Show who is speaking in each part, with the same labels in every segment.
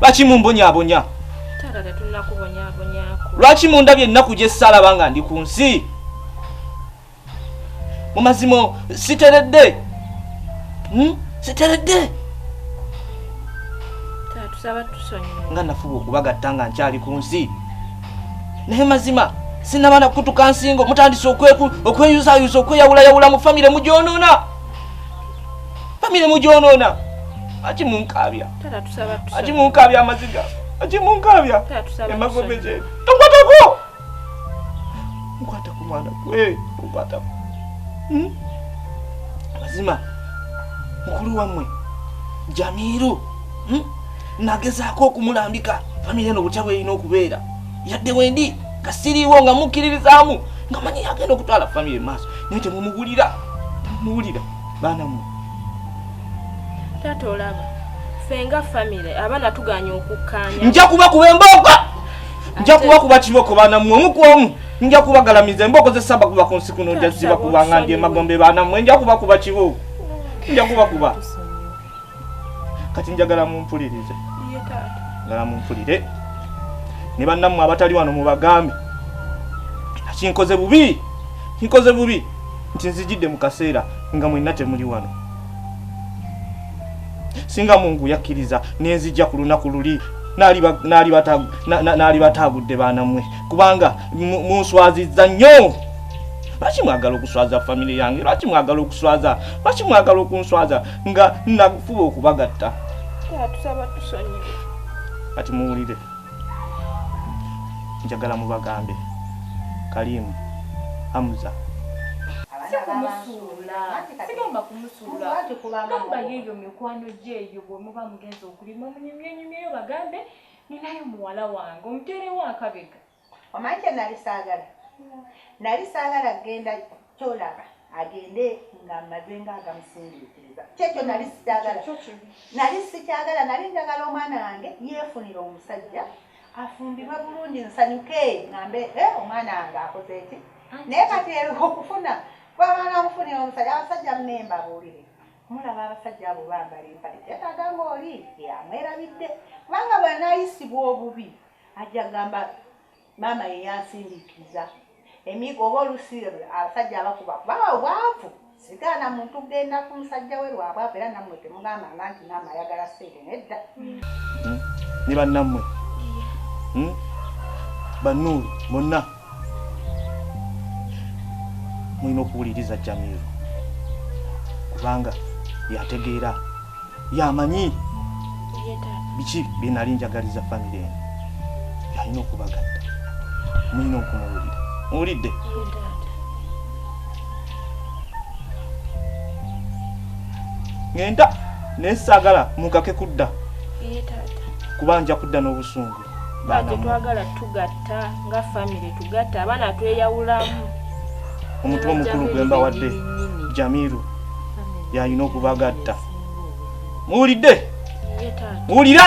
Speaker 1: lwaki mumbonyabonya
Speaker 2: lwaki mundabye
Speaker 1: ennaku gye saalaba nga ndi ku nsi mu mazima siteredde hmm? siteredde
Speaker 2: nga nafuba okubagatta
Speaker 1: nga nkyali ku nsi naye mazima sinaba nakutuka nsingo mutandise okweyuzayuza okweyawulayawula mu famire mugyonoona famire mugyonoona aki munkaabya aki
Speaker 2: munkaabya amaziga
Speaker 1: aki munkaabya emagombe
Speaker 2: gye
Speaker 1: tokwatako nkwatako mwana gwe nkwatako hmm? mazima mukulu wammwe jamiiru hmm? nagezaako okumulambika famire eno butya bwerina okubeera yadde wendi nga siriiwo nga mukkiririzaamu nga manyi yagenda okutwala famire maaso naye temumugulira temumuwulira baana mwe
Speaker 2: taata olaba fenga famire abaana tuganya okukkaanya nja kuba kuba embooko
Speaker 1: nja kuba kuba kiboko baana mwe omu ku omu nja kubagalamiza embooko zesaba kuba ku nsi kuno nja ziba kuba nga ndi emagombe baana mwe nja kuba kuba kiboko nja kuba kuba kati njagala mumpulirize
Speaker 2: njagala mumpulire
Speaker 1: ne bannammwe abatali wano mubagambe kinkoze bubi kinkoze bubi nti nzijidde mu kaseera nga mwenna temuli wano singa mungu yakkiriza nenzijja ku lunaku luli naali bataagudde baanamwe kubanga munswaziza nnyo lwaki mwagala okuswaza famire yange lwaki mwagala okuswaza lwaki mwagala okunswaza nga nakufuba okubagatta atusaba
Speaker 2: tusonyiwe kati
Speaker 1: muwulire njagala mubagambe kalimu amuza
Speaker 3: gamba yeeyo mikwano gyeeyo bwemuba mugenza okulima omunyumyenyumyeyo bagambe ninayo muwala wange omuteerewo akabega Omanyi kye nnali
Speaker 4: saagala? Nnali saagala kugenda ky'olaba agende ng'amaze ng'agamusindiikiriza. Kye kyo nnali sikyagala. Nnali sikyagala, nnali njagala omwana wange yeefunire omusajja afumbirwe bulungi nsanyuke ngambe eh, omwana wange akoze ki naye kati ero okufuna kwabanga amufunira omusajja abasajja munemba buulire mulaba abasajja abo bambala empale kyetaaga ngaoli amwerabidde kubanga bwanayisibwa obubi ajja kugamba maama ye yansindikiza emigo oba olusi abasajja abakuba baba obwavu sigaana muntu kugenda ku musajja we lwabwavu era nammwe temugamba nga nti maama ayagala sente nedda hmm?
Speaker 1: ne bannammwe hmm? bannuulu bonna mulina okuwuliriza jamiru kubanga yategeera yamanyi biki byenali njagaliza famire eno yalina okubagatta mulina okumuwulira muwulidde ngenda naye saagala mukake kudda kuba nja kudda n'obusungu tetwagala
Speaker 2: tugatta nga famire tugatta abaana tweyawulamu omuntu
Speaker 1: omukulu gwe mbawadde jamiru yalina okubagatta muwulidde muwulira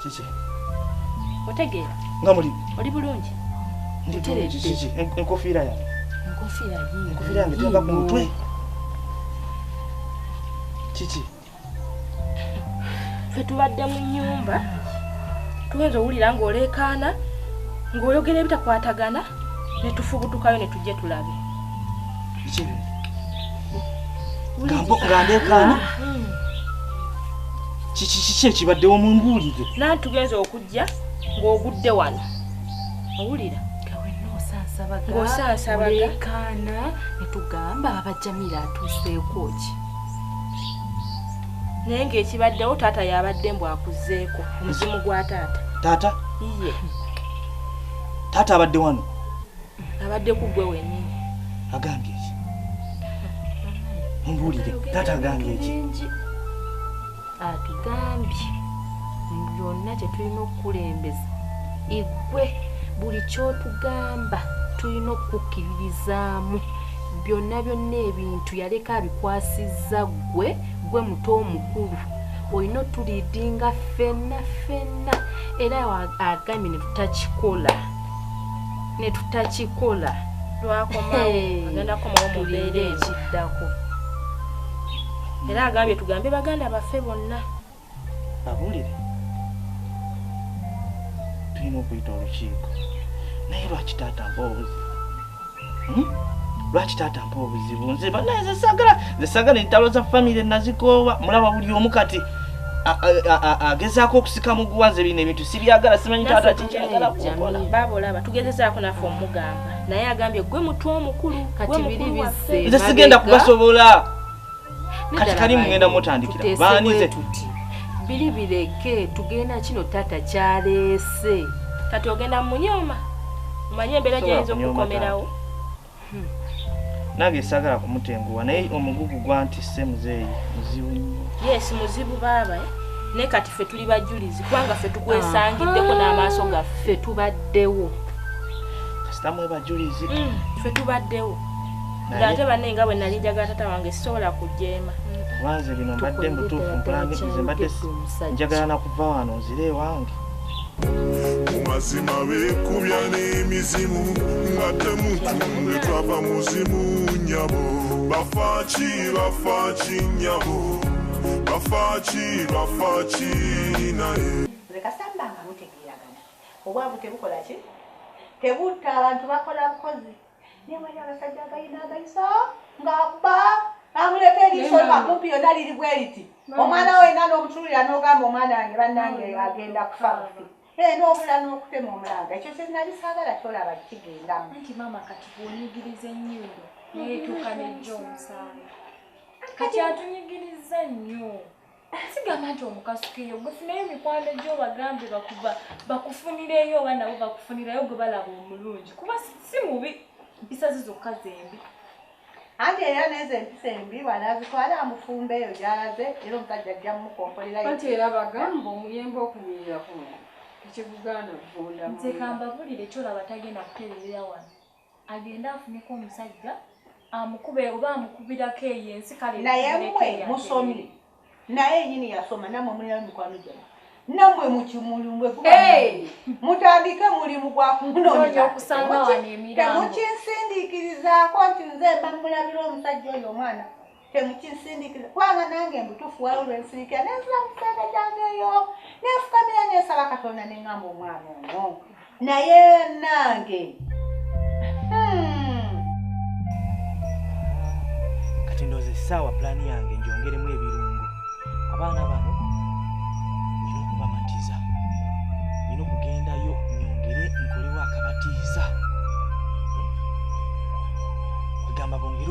Speaker 1: kiki
Speaker 2: otegeera nga muli
Speaker 1: oli bulungi
Speaker 2: kiki
Speaker 1: enkofiira yange enkofiira yii enkofiira yange teva ku mutwe kiki
Speaker 2: fe tubadde mu nyumba tuyinza owulira ng'oleekaana ng'oyogera ebitakwatagana ne tufubutukayo ne tujje tulabe
Speaker 1: nga ndeekaana hmm. kiki kiki ekibaddewo mumbuulire nani tugenza okujja
Speaker 2: ng'ogudde wano owulira ng'osansabagaolekaana
Speaker 3: netugamba abajamira atuuseeko ki
Speaker 2: naye ng'ekibaddewo taata yabadde mbu akuzeeko omuzimu gwa taata taata iye
Speaker 1: taata abadde wano abadde
Speaker 2: ku gwe wenyini agambye ki
Speaker 1: mumbuulire taata agambye ki atugambye
Speaker 3: mu byonna kyetulina okukulembeza igwe buli kyotugamba tulina okukkiririzaamu byonna byonna ebintu yaleka abikwasizza gwe gwe muto omukulu olina otuliidinga fenna fenna era agambye ne tutakikola netutakikola
Speaker 2: lwakomaogendakomaomubeera ekiddako era agambye tugambe baganda baffe bonna
Speaker 1: abulire tulina okuyita olukiiko naye lwaki taata mpozi Hmm? lwaki taata mpa obuzibu nze banaye zesagala zesagala entalo za famire nazikoowa mulaba buli omu kati agezaako okusika muguwa nze bino ebintu sibyagala simanyi taata kikyagala kukola baaba olaba tugezezaako
Speaker 2: naffe omugamba naye agambye gwe mutu omukulu
Speaker 3: nze sigenda kubasobola
Speaker 1: kati kali mugenda mutandikira baanize biri
Speaker 3: bireke tugenda kino taata kyaleese kati ogenda
Speaker 2: munyoma omanye embeera gyayinza okukomerawo hmm.
Speaker 1: nange sagala kumutenguwa naye omugugu gwantisse muzeeyi muzibu yes muzibu
Speaker 2: baaba eh? naye kati ffe tuli bajulizi kubanga ffe tukwesangiddeko n'amaaso gaffe tubaddewo
Speaker 1: kasitamu ebajulizi hmm, ffe tubaddewo
Speaker 2: nga ate banne nga bwe nali njagala tata wange sisobola kujeema wanze bino
Speaker 1: mbadde mutuufu mpulangirize mbadde njagala nakuva wano nzire ewange
Speaker 5: mumazima bekubya n'emizimu nga temutunde twava muzimu nyabo bafaki bafaki nyabo bafaki bafaki naye
Speaker 4: obwavu tebukola ki tebutta abantu bakola bukozi Naye wali abasajja agalina agaiso ng'akuba amuleka eriiso akumpi yonna liri bwe riti omwana we yena n'omutululira n'ogamba omwana wange bannange agenda kufa bufi ee eh, n'obula n'okutema omulanga ekyo kye nali saagala kyolaba kigendamu nti maama kati
Speaker 3: bw'onyigiriza ennyimbo naye etuuka nejja omusaala kati atunyigiriza nnyo sigamba nti omukasukeyo gwefunayo emikwano gyo bagambe bakuba bakufunireyo oba nabo bakufunirayo gwe balaba omulungi kuba si mubi mpisa ze zokka zembi anti
Speaker 4: era nezo empisa embi wanazitwala amufumba eyo gyalaze era omusajja ajja mumukompolerao anti era bagamba
Speaker 6: omuyembe okunyirira kuno tekigugaana kuvundamu nze kambabulire
Speaker 3: kyolaba tagenda kutererera wano agende afuneko omusajja amukube oba amukubirako eyo ensi kale naye mwe
Speaker 4: musomye naye nyini yasoma namwe mulina mikwano gyamwe namwe mukimulumwe mutandike mulimu
Speaker 3: gwakumunonyatemukinsindikirizaako
Speaker 4: nti nze mbamulabira omusajja oyo omwana temukinsindikira kubanga nange mbutufu waliwo lwensindikira nenzira musente gyange eyo nenfukamira nensaba katonda nengamba omwana ono naye nange hmm.
Speaker 1: kati ndoza esaawa pulaani yange njongeremu ebirungo abaana bano nyina okubamatiza nyina okugendayo nyongere nkolewo akabatiiza hmm? kwegamba bongere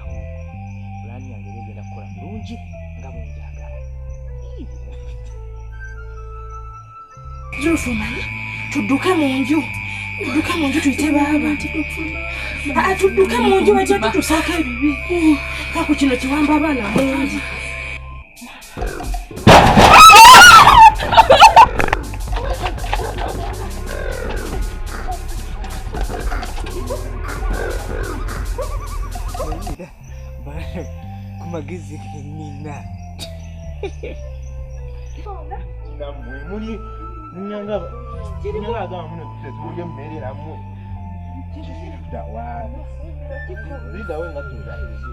Speaker 2: awo pulaani yange era egenda kukola bulungi nga bwenjagala Zulufu omanyi tudduke mu nju tudduke mu nju tuyite baaba ah, tudduke mu nju bajja tutusaako ebibi kaku kino kiwamba abaana mungi
Speaker 1: kumagezi nina namwe muli nyanga nyanga agamba muno tetulya emmere namwe dawa lidawe nga tuzaeyo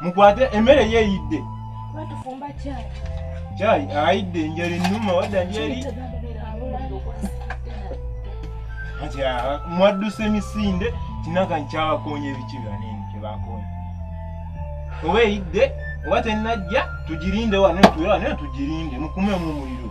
Speaker 1: Mukwate emmere ye eyidde. Batufumba chai. Chai ayidde njeri nnuma wadda njeri. Aja mwadduse misinde tinaka nkyabakoonye ebiki byanene kyebakoonye. Oba eyidde oba tennajja tugirinde wano tuwe wano tugirinde mukume mu muliro.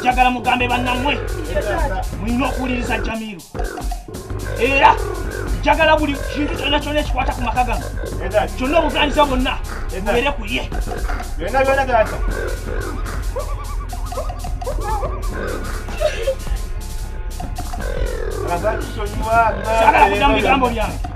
Speaker 1: njagala mugambe bannamwe mulina okuwuliriza jamiru era njagala buli kintu kyonna kyonna ekikwata ku maka gano kyonna obuvunanyizibwa bwonna bubeere ku ye
Speaker 7: sagala
Speaker 1: kuddamu bigambo byange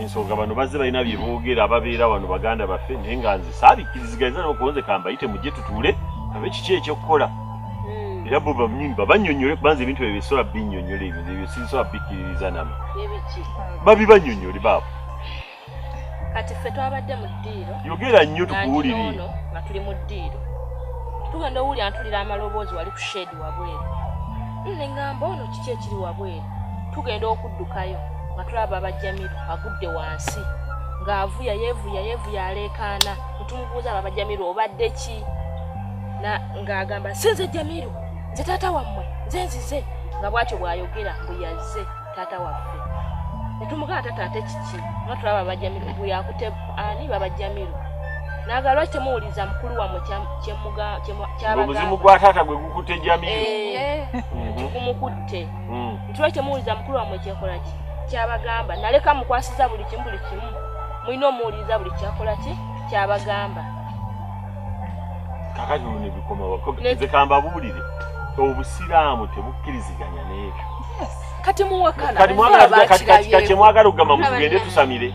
Speaker 8: ensonga bano bazze balina bye boogera ababeera wano baganda baffe naye nga nze saabikkirizigaliza nokuonze kambayite mujje tutuule abe kiki ekyokukola hmm. era bo banyini babanyonyole kubanza ebintu ebyo bisobola binyonyola ebyo ebyo sisobola bikkiririza namu babibanyonyole baabo
Speaker 9: kati ffe twabadde mu ddiiro yogera nnyo tukuwulire
Speaker 8: nga tuli mu
Speaker 9: ddiiro tugenda owulira ntulira amaloboozi wali ku shedi wabweru hmm, ne ngamba ono kiki ekiri wabweru tugenda okuddukayo nga tulaba baba jamiru agudde wansi ng'avuya yevuya yevuya aleekaana netumubuuza baba jamiru obadde ki ng'agamba si nze jamiru nze taata wammwe nze nzize nga bwatyo bw'ayogera mbu yazze taata waffe netumugamba taata ate kiki nga tulaba baba jamiru mbu yakute ani baba jamiru naga lwaki temuwuliriza mukulu wamwe kyabaobuzimu gwa taata
Speaker 8: gwe gukutte jamiru eh, eh, mhm.
Speaker 9: gumukutte hmm. ntuba kyemuwuliza mukulu wamwe kyekola ki kyabagamba naleka mukwasiza buli kimu buli kimu mulina omuwuliriza buli kyakola ki kyabagamba
Speaker 8: kakati luno ebikomawekamba buwulire obusiraamu tebukkiriziganya n'ebyo kati
Speaker 9: muwakana kati mwagala kati
Speaker 8: kati kati mwagala okugamba mutugende tusamire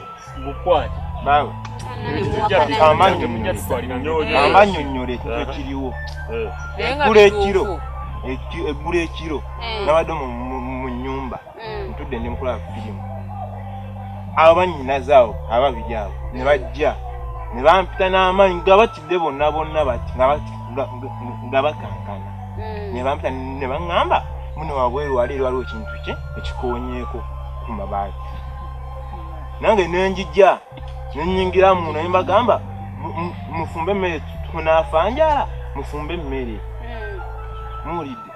Speaker 7: amanyonyole ekiriwo eggula ekiro eggula ekiro nabadde mu nyumba ntudde ndi mukola firimu abanyinaze awo ababiri awo ne bajja ne bampita n'amaanyi bajjidde bonna bonna nga bakankana hmm. nebampita ne baŋŋamba mune wabweru wali eri waliwo ekintu kye ekikonyeeko ku mabaati nange nenjija nenyingira mu naye mbagamba mufumbe emmere tunafanjala mufumbe emmere hmm. muwulidde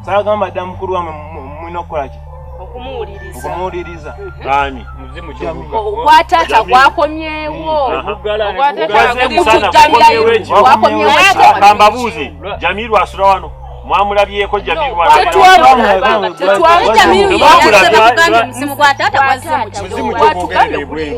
Speaker 7: sagamba dda mukulu wamwe mulina okukola ki okumuwuliriza ani
Speaker 8: muzimu
Speaker 9: kyobuka ogwa taata gwakomyewo
Speaker 8: kambabuuze jamiru asula wano mwamulabyeko jamiru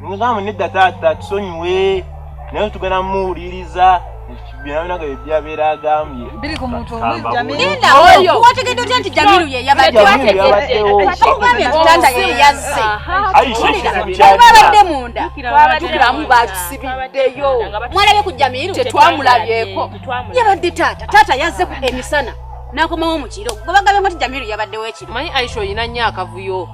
Speaker 7: Mugamba nedda taata tusonyiwe naye tugenda muwuliriza wategedde
Speaker 2: otya nti jamiru yeyabaddeatanda yeyazze babadde munda tukiramu bakisibiddeyo mwalabye ku jamiru tetwamulabyeko yabadde taata taata yazze emisana nakomawo mukiro gwebagabye moti jamiru yabaddewo ekiro manyi aisha olina nyo
Speaker 9: akavuyo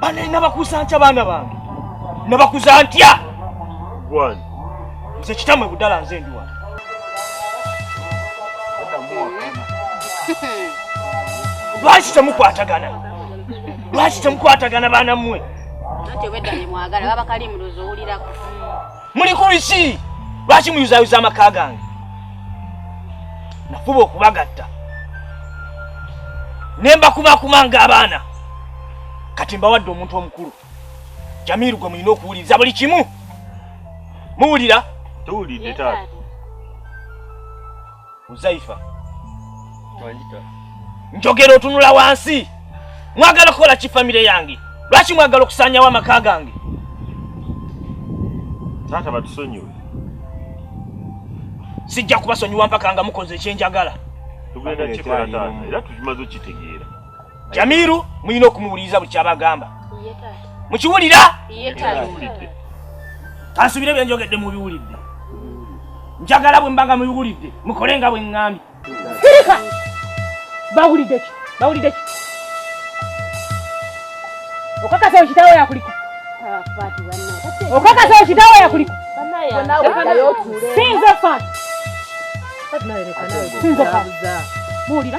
Speaker 1: bane nabakuza ntya baana bange nabakuza ntya
Speaker 8: nze
Speaker 1: kitamwe budala nze ndi wano lwaki temukwatagana lwaki temukwatagana baana mmwe
Speaker 2: muli ku
Speaker 1: biki lwaki muyuzayuza amaka gange nafuba okubagatta ne mbakumakuma ng'abaana kati mbawadde omuntu omukulu jamiiru gwe mulina okuwuliriza buli kimu muwulira tuwulidde
Speaker 8: taata
Speaker 1: Uzaifa. Wanjita. Njogera otunula wansi. Mwagala kukola ki family yange? Lwaki mwagala okusanyawo amaka gange?
Speaker 8: Taata batusonyiwe.
Speaker 1: Sijja kubasonyiwa mpaka nga mukoze ekyenjagala. Tugenda
Speaker 8: kikola taata era tukimaze okitegeera. jamiru
Speaker 1: muyina okumuwuliriza buli kyabagamba mukiwulira kansubire byenjogedde mubiwulidde njagala bwe mbanga mubiwulidde mukole nga bwe ŋŋambye sirika bawulidde ki bawulidde ki okakasa ekitawo yakulika okakasa ekitawo yakulika sinze fat sinze fat muwulira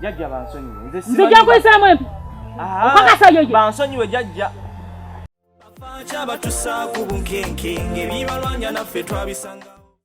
Speaker 2: Jajja
Speaker 1: bansonyiwe. Nze simanyi. Nzija kuyisaamu
Speaker 2: empi. Ah, Okakasa yo ye. Bansonyiwe jajja.
Speaker 5: Abakyabatusaako bunkenke ng'ebibalwanya naffe twabisanga.